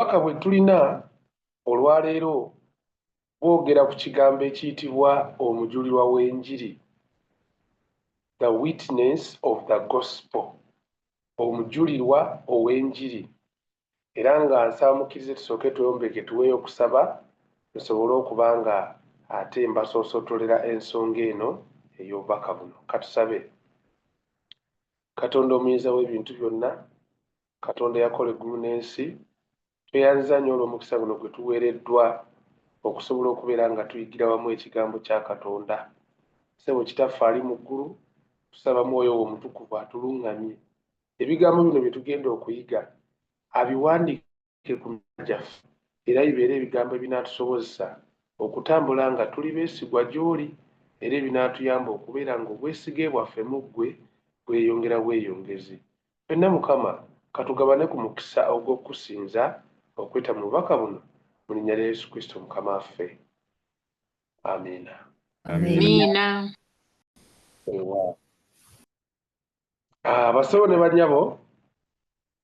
obubaka bwe tulina olwaleero bwogera ku kigambo ekiyitibwa omujulirwa w'enjiri the witness of the gospel omujulirwa ow'enjiri era nga nsaamukirize tusooke tweyombeke tuweeyo okusaba nsobole okuba nga ate mbasoosotolera ensonga eno ey'obubaka buno katusabe katonda omuyinza w'ebintu byonna Katonda eyakola eggulu n'ensi, tweyanziza nnyo olw'omukisa guno gwe tuweereddwa okusobola okubeera nga tuyigira wamu ekigambo kya Katonda. Ssebo Kitaffe ali mu ggulu, tusaba Mwoyo wo Omutukuvu atuluŋŋamye ebigambo bino bye tugenda okuyiga abiwandiike ku mitima gyaffe era bibeere ebigambo ebinaatusobozesa okutambula nga tuli beesigwa gy'oli era ebinaatuyamba okubeera ng'obwesige bwaffe mu ggwe bweyongera bweyongezi. Ffenna Mukama katugabane ku mukisa ogw'okukusinza okuyita mu bubaka buno mu linnya lya Yesu Kristo Mukama waffe. Amiina. Amiina. Ah, basebo ne banyabo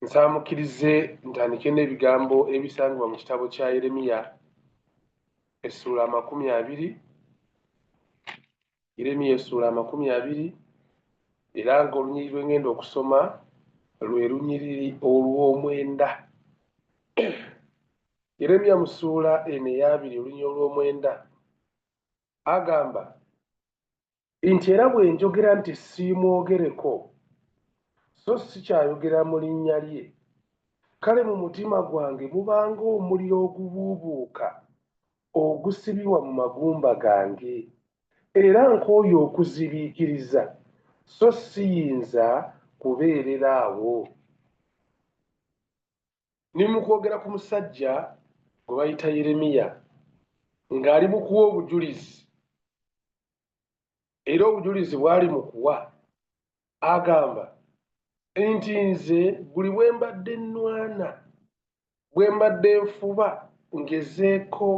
nsaamukirize ntandike n'ebigambo ebisangibwa mu kitabo kya yeremiya essuula amakumi abiri Yeremiya essuula amakumi abiri era ng'olunyiriri lwe ngenda okusoma lwe lunyiriri olw'omwenda. Yeremiya mu ssuula eno eyabiri olunyiriri olw'omwenda agamba nti era bwe njogera nti siimwogereko so sikyayogera mu linnya lye kale mu mutima gwange mubanga omuliro ogubuubuuka ogusibibwa mu magumba gange, era nkooye okuzibiikiriza, so siyinza kubeerera awo. Ne mu kwogera ku musajja gwe bayita Yeremiya, ng'ali mu kuwa obujulizi, era obujulizi bw'ali mu kuwa agamba nti nze buli bwe mbadde nnwana bwe mbadde nfuba ngezeeko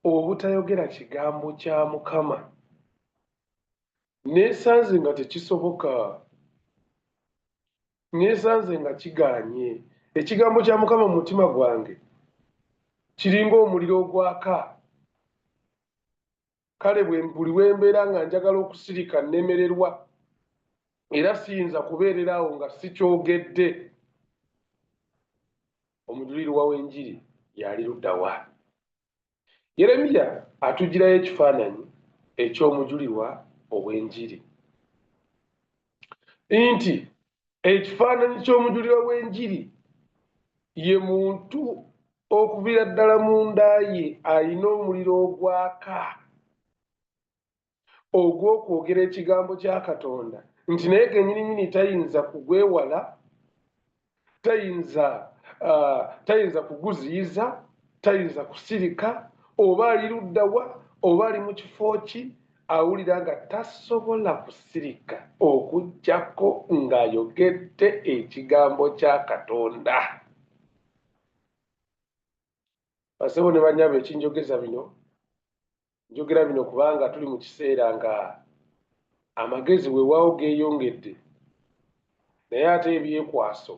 obutayogera kigambo kya mukama neesanze nga tekisoboka neesanze nga kiganye ekigambo kya mukama mu mutima gwange kiringa omuliro ogwaka kale buli we mbeera nga njagala okusirika nnemererwa era siyinza kubeerera awo nga sikyogedde omujulirwa w'enjiri yali luddawa yeremiya atugirayo ekifaananyi eky'omujulirwa ow'enjiri nti ekifaananyi ky'omujulirwa w'enjiri ye muntu okuvira ddala mu nda ye alina omuliro ogwaka ogw'okwogera ekigambo kya katonda nti naye genyininyini tayinza kugwewala tayinza uh, tayinza kuguziyiza tayinza kusirika oba ali luddawa oba ali mu kifo ki awulira nga tasobola kusirika okujjako ng'ayogedde ekigambo kya katonda basebo ne banyabo ekinjogeza bino njogera bino kubanga tuli mu kiseera nga amagezi weewaawo geeyongedde naye ate ebyekwaso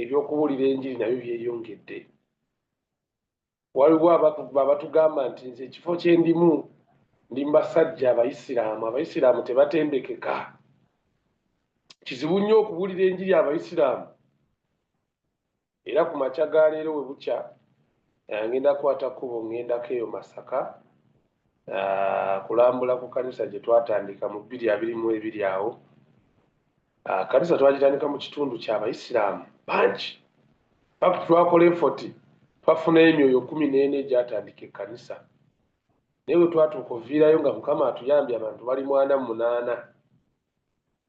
ebyokubuulira enjiri nabyo byeyongedde waliwo abatugamba nti nze ekifo kyendimu ndi mbasajja abayisiraamu abayisiraamu tebatendekeka kizibu nnyo okubuulira enjiri abayisiraamu era ku makya ga leero we bukya eh, ngenda kukwata kkubo ngendako eyo masaka ah, kulambula ku kanisa gye twatandika mu bbiri abiri mu ebiri awo Ah, kanisa twagitandika mu kitundu kyabayisiraamu bangi paka twakola efoti twafunayo emyoyo kumi neena egyatandika ekkanisa naye bwe twatuuka oviirayo nga mukama atuyambye abantu bali mwana munaana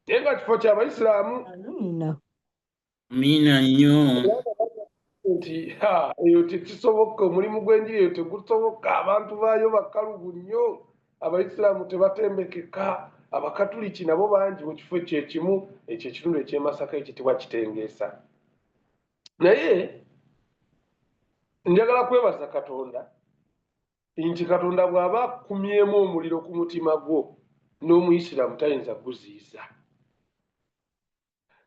naye nga kifo kyabayisiraamu mina nnyo nti eyo tekisoboka omulimu gw'enjiri eyo tegusoboka abantu baayo bakalubu nnyo abaisiraamu tebatembekeka abakatuliki nabo bangi mu kifo ekyo ekimu ekyo ekitundu ekyemasaka ekitibwa kitengeesa naye njagala kwebaza katonda nti katonda bw'aba akumyemu omuliro ku mutima gwo n'omuisiraamu tayinza guziiza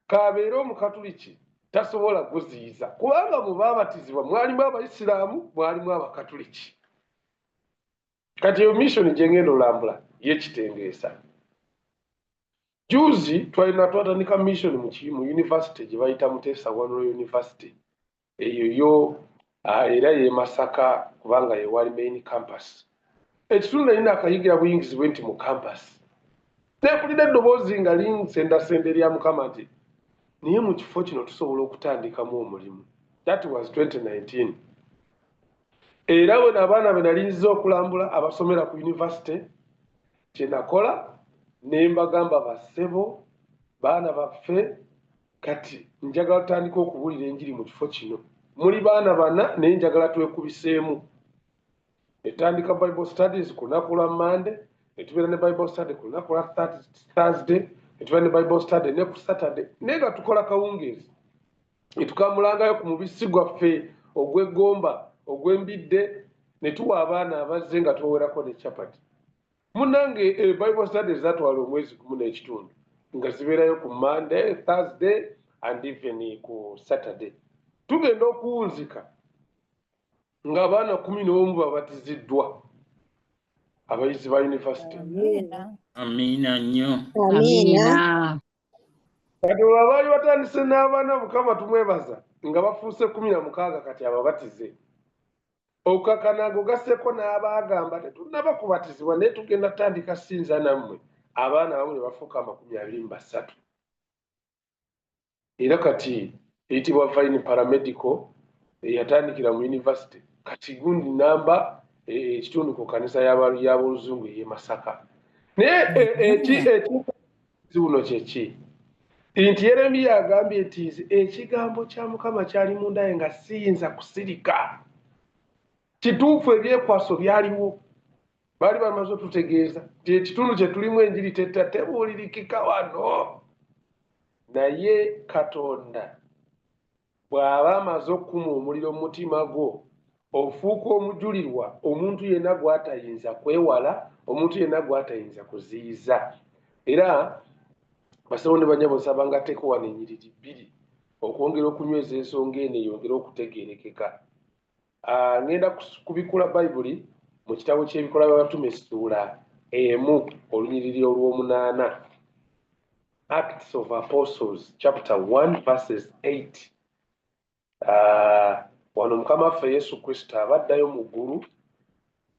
k'abeere Omukatuliki tasobola kuziyiza kubanga mu baabatizibwa mwalimu Abayisiraamu, mwalimu Abakatuliki. Kati eyo misoni gye ngenda olambula yekitengeesa. Juzi twalina twatandika misoni mu yunivasite gye bayita Muteesa One University eyo yo ah, era ye masaka kubanga yewali main campus ekitundu nalina akayigira buyingizi bwe nti mu campus nekulira eddoboozi nga linsendasenda erya mukama nti naye mu kifo kino tusobola okutandikamu omulimu that was 2019 era wena abaana be nalinziza okulambula abasomera ku yunivasite kyenakola ne mbagamba basebo baana baffe kati njagala tutandika okubuulira enjiri mu kifo kino muli baana bana naye njagala twekubiseemu etandika bible studies ku lunaku lwa mande netubeera ne bible study ku lunaku lwa thursday netubeera ne bible study ne ku saturday naye nga tukola kawungeezi netukamulangayo ku mubisi gwaffe ogwegomba ogwembidde netuwa abaana abazze nga tubawerako ne chapati Munange e eh, Bible studies zatwala omwezi gumu n'ekitundu nga zibeerayo ku Monday, Thursday and even ku Saturday. Tugenda okuwunzika nga abaana kumi n'omu babatiziddwa abayizi ba yunivasite. Amiina nnyo. Amiina. Kati olwo abaali batandise n'abaana Mukama tumwebaza nga bafuuse kumi na mukaaga kati ababatize. okukakana ago gasseko n'abaagamba tetunnaba kubatizibwa naye tugenda tutandika sinza nammwe abaana abamu ne bafuuka amakumi abiri mu basatu era kati eyitibwa vine paramedical eyatandikira mu yunivasite kati gundi namba e, e, ekitundu ku kanisa y'aboluzungu ey'e masaka naye e, ziwuno kyeki nti yeremiya agambye nti nze ekigambo kya mukama kyali mundaye nga siyinza kusirika kituufu ebyekwaso byaliwo baali bamaze otutegeeza nti ekitundu kyetulimu enjiri teta tebuulirikika wano naye katonda bw'aba amaze okukuma omuliro mu mutima gwo ofuuka omujulirwa omuntu yenna gw'atayinza kwewala omuntu yenna gw'atayinza kuziyiza era basabo ne banyabo nsaba nga teeka wano enyiriri bbiri okwongera okunyweza ensonga eno eyongere okutegeerekeka Ah, ngenda kubikula bayibuli mu kitabo ky'ebikola by'abatume essuula emu olunyiriri olw'omunaana acts of apostles chapter 1 verses 8 ah, wano mukama waffe yesu kristo aba addayo mu ggulu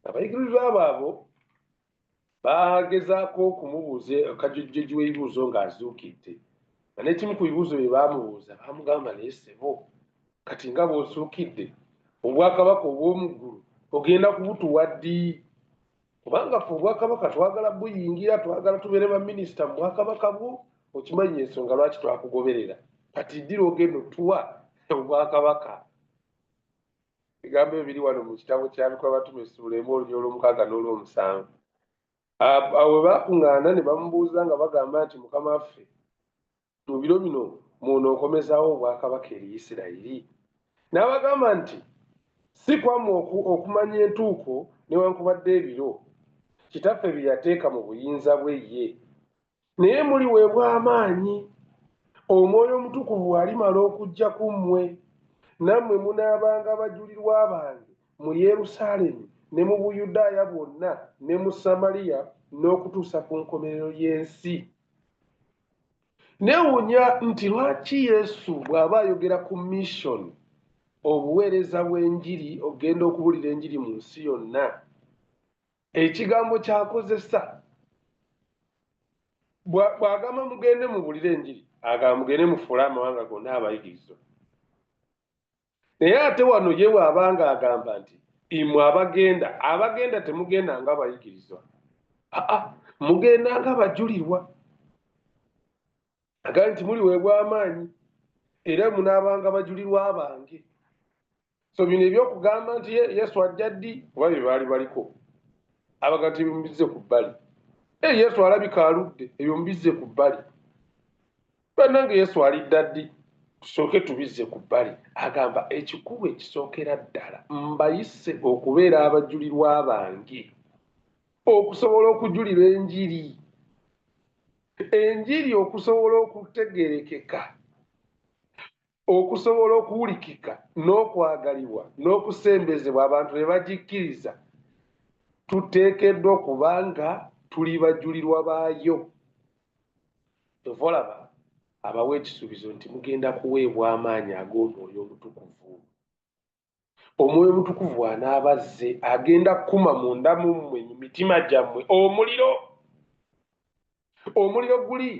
abayigirizwa abo abo baagezaako okumubuuza kajojjoji w'ebibuuzo ng'azuukidde nga n'ekimu ku bibuuzo bye baamubuuza baamugamba naye sebo kati nga bw'osuukidde obwakabaka obw'omu ggulu ogenda kubutuwa ddi kubanga fe obwakabaka twagala buyingira twagala tubeere baminisita mu bwakabaka bwo okimanyi ensonga lwaki twakugoberera kati ddira ogenda otuwa obwakabaka ebigambo ebyo biri wano mu kitabo kya bikola batuma essuula emu olunya olw'omukaaga n'olw'omusanvu awo baakuŋŋaana ne bamubuuza nga bagamba nti mukama waffe mu biro bino mwonookomezaawo obwakabaka eri isirayiri n'abagamba nti si kwamu okumanya entuuko newankubadde ebiro kitaffe bye yateeka mu buyinza bwe ye naye muliweebwa amaanyi omwoyo omutukuvu alimala okujja ku mmwe nammwe munaabanga abajulirwa bange mu yerusaalemi ne mu buyudaaya bwonna ne mu samaliya n'okutuusa ku nkomerero y'ensi newunya nti lwaki yesu bw'aba ayogera ku mission obuweereza bw'enjiri okugenda okubuulira enjiri mu nsi yonna ekigambo kyakozesa bwagamba mugende mubulire enjiri agamba mugende mufuule amawanga gonna abayigirizo naye ate wano ye waabanga agamba nti imwe abagenda abagenda temugenda nga bayigirizwa aa mugenda nga bajulirwa agambye nti muliweebwa amaanyi era munaabanga bajulirwa bange so bino ebyokugamba nti yesu ajja ddi oba bye baali baliko abaga nti ebyomubizze ku bbali e yesu alabika aludde ebyomubizze ku bbali bannange yesu alidda ddi tusooke tubizze ku bbali agamba ekikulu ekisookera ddala mbayise okubeera abajulirwa bange okusobola okujulira enjiri enjiri okusobola okutegerekeka okusobola okuwulikika n'okwagalibwa n'okusembezebwa abantu be bagikkiriza tuteekeddwa okuba nga tuli bajulirwa baayo kyova olaba abawa ekisuubizo nti mugenda kuweebwa amaanyi ag'omwoyo omutukuvu Omwoyo Omutukuvu bw'anaaba azze, agenda kukuma munda mu mmwe, mu mitima gyammwe, omuliro. Omuliro guli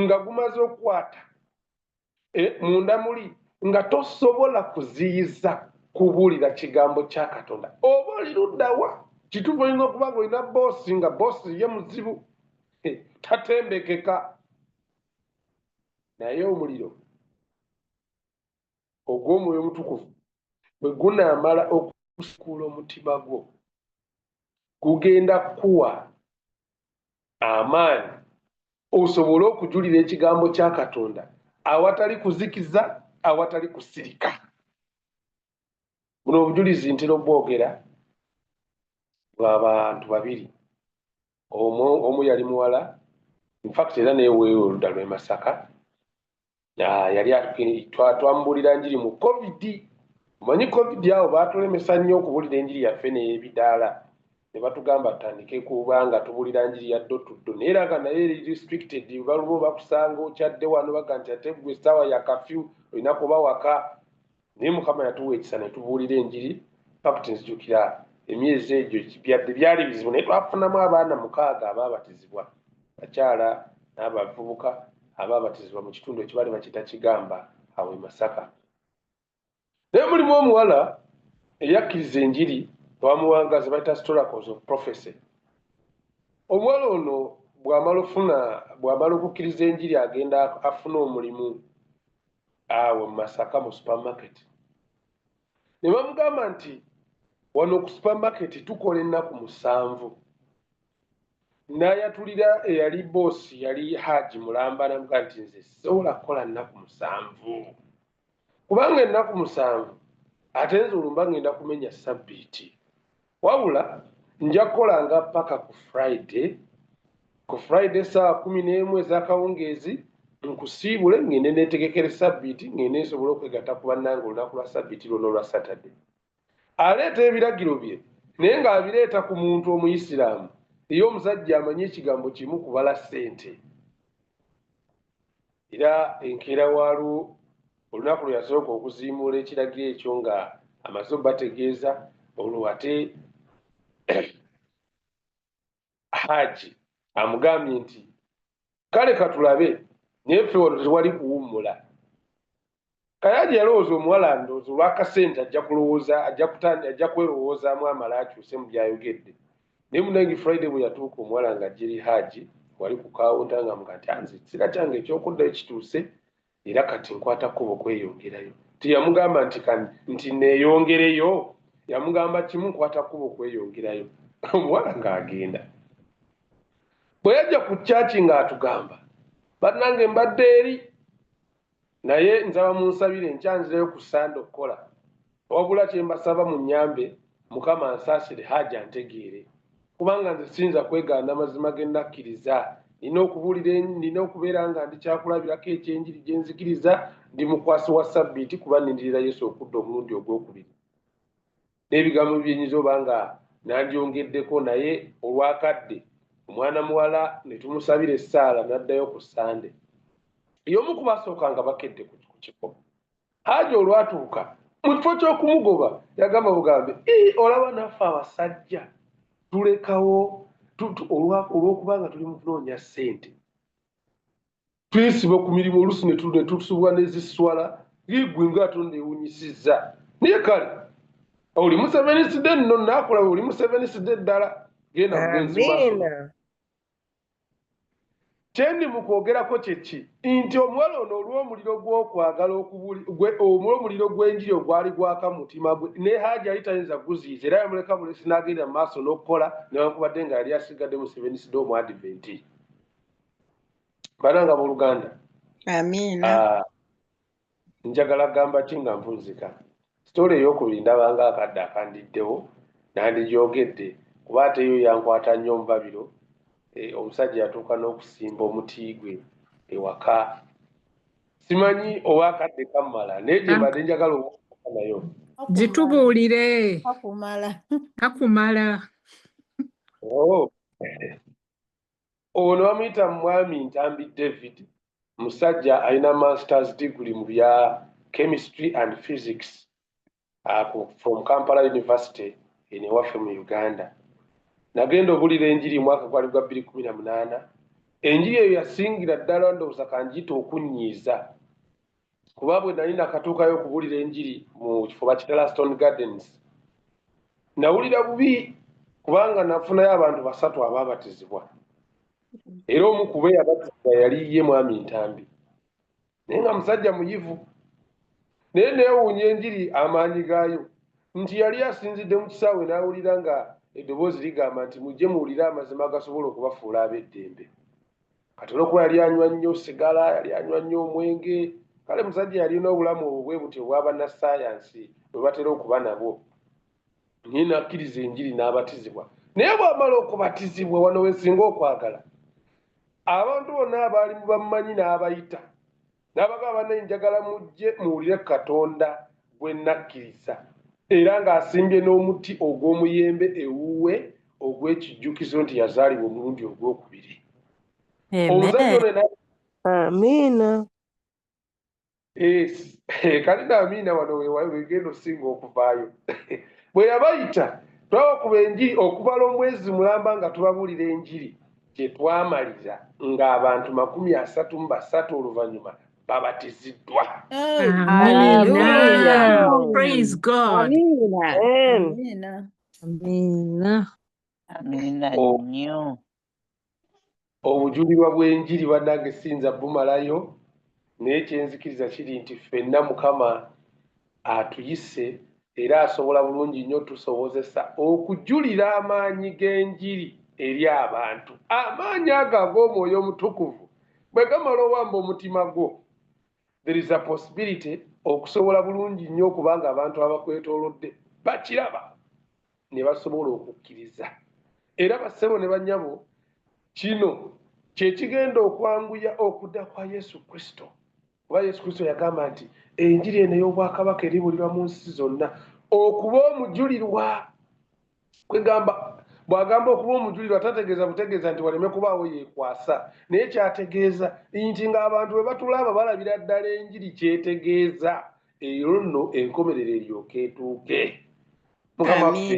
nga gumaze okukwata eh, munda muli, nga tosobola kuziyiza kubuulira kigambo kya Katonda. Oba oli luddawa? Kituufu olina okuba nga olina boosi, nga boosi ye muzibu, eh, tatembekeka. Naye omuliro ogw'omwoyo omutukuvu bwe gunaamala okusukuula omutima gwo gugenda kukuwa amaanyi osobole okujulira ekigambo kya katonda awatali kuzikiza awatali kusirika buno obujulizi ntera obwogera bwabantu babiri omu omu yali muwala infact era newewe oludda lwemasaka Ah, yali twamubulira njiri mu covid omanyi covid awo batulemesa nnyo okubulira enjiri yaffe neyebidaala ne batugamba tutandike kuba nga tubulira njiri ya dotuddo naye era nga naye eri restricted baluba bakusanga okyadde wano baga nti ate gwe essaawa ya kafyu olina kuba waka naye mukama yatuwa ekisa netubuulira enjiri fakti nzijukira emyezi egyo byadde byali bizibu naye twafunamu abaana mukaaga abaabatizibwa bakyala n'abavubuka abaabatizibwa mu kitundu ekibali bakita kigamba awo e masaka naye mulimu omuwala eyakkiriza enjiri twamuwanga ze bayita storacles of prophecy omuwala ono bwamala ofuna bwamala okukkiriza enjiri agenda afuna omulimu awo masaka mu supermarket ne bamugamba nti wano ku supermarket tukola ennaku musanvu n'ayatulira eyali boosi yali haaji mulamba namuga nti nze sisobola kukola nnaku musanvu kubanga ennaku musanvu ate nze olumba ngenda kumenya sabbiiti wabula nja kukolanga paka ku friday ku friday saawa kumi n'emu ez'akawungeezi nkusiibule ngende netegekere sabbiiti ngende nsobole okwegata ku bannanga olunaku lwa sabbiiti lwona olwa saturday aleeta ebiragiro bye naye ng'abireeta ku muntu omuyisiraamu eyo omusajja amanyi ekigambo kimu kubala ssente Era enkeera waalwo, olunaku lwe yasooka okuziimuula ekiragiro ekyo nga amaze obategeeza, olwo ate Haaji amugambye nti, kale katulabe, naye ffe wano tewali kuwummula. Kayanja yalowooza omuwala ndoozi olw'akasente ajja kulowooza ajja kwerowoozaamu amala akyuse mu byayogedde naye munange friday bwe yatuuka omuwala nga jeri haaji wali ku kawunta nga mga nti anze ekisera kyange eky'okuddayo kituuse era kati nkwata kkubo kweyongerayo teyamugamba nti kani nti neeyongereyo yamugamba kimu nkwata kkubo kweyongerayo omuwala ng'agenda bwe yajja ku kyaki ng'atugamba bannange mbadde eri naye nsaba munsabire enkya nzireyo ku sande okukola wabula kyembasaba mu nyambe mukama ansaasire haaji antegeere kubanga nze siyinza kwegaana amazima ge nakkiriza nina okubuulira nina okubeera nga ndi kyakulabirako ekyenjiri gye nzikiriza ndi mukwasi wa sabbiiti kuba nindirira yesu okudda omulundi ogwokubiri n'ebigambo byenyinza oba nga nandyongeddeko naye olwakadde omwana muwala ne tumusabira essaala n'addayo ku ssande y'omu ku basooka nga bakedde ku kifo haaji olwatuuka mu kifo ky'okumugoba yagamba bugambe olaba naffe abasajja tulekawo olw'okuba nga tuli mu kunoonya ssente tuyisiba ku mirimu oluusi netusubwa neziswala ngigwe nga ate newunyisiza naye kale oli museveniside nno nakola oli museveniside ddala genda kyendi mukwogerako kyeki nti omuwala ono olwomuliro gwokwagala omuliro gwenjiri ogwali gwaka mutima gwe ne haji yali tayinza guziiza era yamuleka bulesi nagenda mu maaso nokukola newankubadde nga yali asigadde museveniside omwadiventi bananga boluganda amiina ah, njagala gamba ki nga mpunzika sitole eyokubiri ndabanga akadde akandiddewo nandigyogedde kuba ate yo yankwata nnyo omubabiro eh, omusajja yatuuka n'okusimba omuti gwe ewaka simanyi oba akadde kammala naye gyembadde njagala obuuka nayo gitubuulire kakumala kakumala oh. ono bamuyita mwami ntambi david musajja alina masters degree mu bya chemistry and physics uh, from kampala university eno ewaffe mu uganda nagenda obulira enjiri omwaka gwali gwa bbiri kumi na munaana enjiri eyo yasingira ddala ndowooza kanjita okunnyiiza kuba bwe nali nakatuukayo okubuulira enjiri mu kifo bakitala stone gardens nawulira bubi kubanga nafunayo abantu basatu abaabatizibwa era omu kuba eyabatizibwa yali ye mwami ntambi naye nga musajja muyivu naye neewuunya enjiri amaanyi gaayo nti yali asinzidde mu kisaawe n'awulira nga eddoboozi ligamba nti mujje muwulire amazima agasobola okubafuula ab'eddembe kati olwokuba yali anywa nnyo sigala yali anywa nnyo omwenge kale musajja yalina obulamu obwo bwe butyo obwabannasayansi bwe batera okuba nabwo naye nakkiriza enjiri n'abatizibwa naye bwamala okubatizibwa wano wesinga okwagala abantu bonna abaali mu bammanyi n'abayita n'abagamba banaye njagala mujje muwulire katonda gwe nakkiriza era ng'asimbye n'omuti ogw'omuyembe ewuwe ogw'ekijjukizo nti yazaalibwa omulundi ogw'okubiri amiina kati naamiina wano wegenda osinga okuvaayo bwe yabayita twabakuba enjiri okubala omwezi mulamba nga tubabuulira enjiri kye twamalira ng'abantu makumi asatu mu basatu oluvannyuma babatiziddwa obujulirwa bw'enjiri banange siyinza bumalayo naye kyenzikiriza kiri nti ffenna mukama atuyise era asobola bulungi nnyo tusobozesa okujulira amaanyi g'enjiri eri abantu amaanyi ago ag'omwoyo omutukuvu bwe gamala owamba omutima gwo there is a possibility okusobola bulungi nnyo okubanga abantu abakwetolodde bakiraba ne basobola okukkiriza era bassebo ne banyabo kino kye kigenda okwanguya okuda kwa yesu kristo kuba yesu kristo yagamba nti enjiri eno ey'obwakabaka eribulirwa mu nsi zonna okuba omujulirwa kwegamba bw'agamba okuba omujulirwa tategeeza butegeeza nti waleme kubaawo yeekwasa naye kyategeeza nti ng'abantu bwe batulaaba balabira ddala enjiri kyetegeeza eyo nno enkomerero eryoka etuuke mukama ffe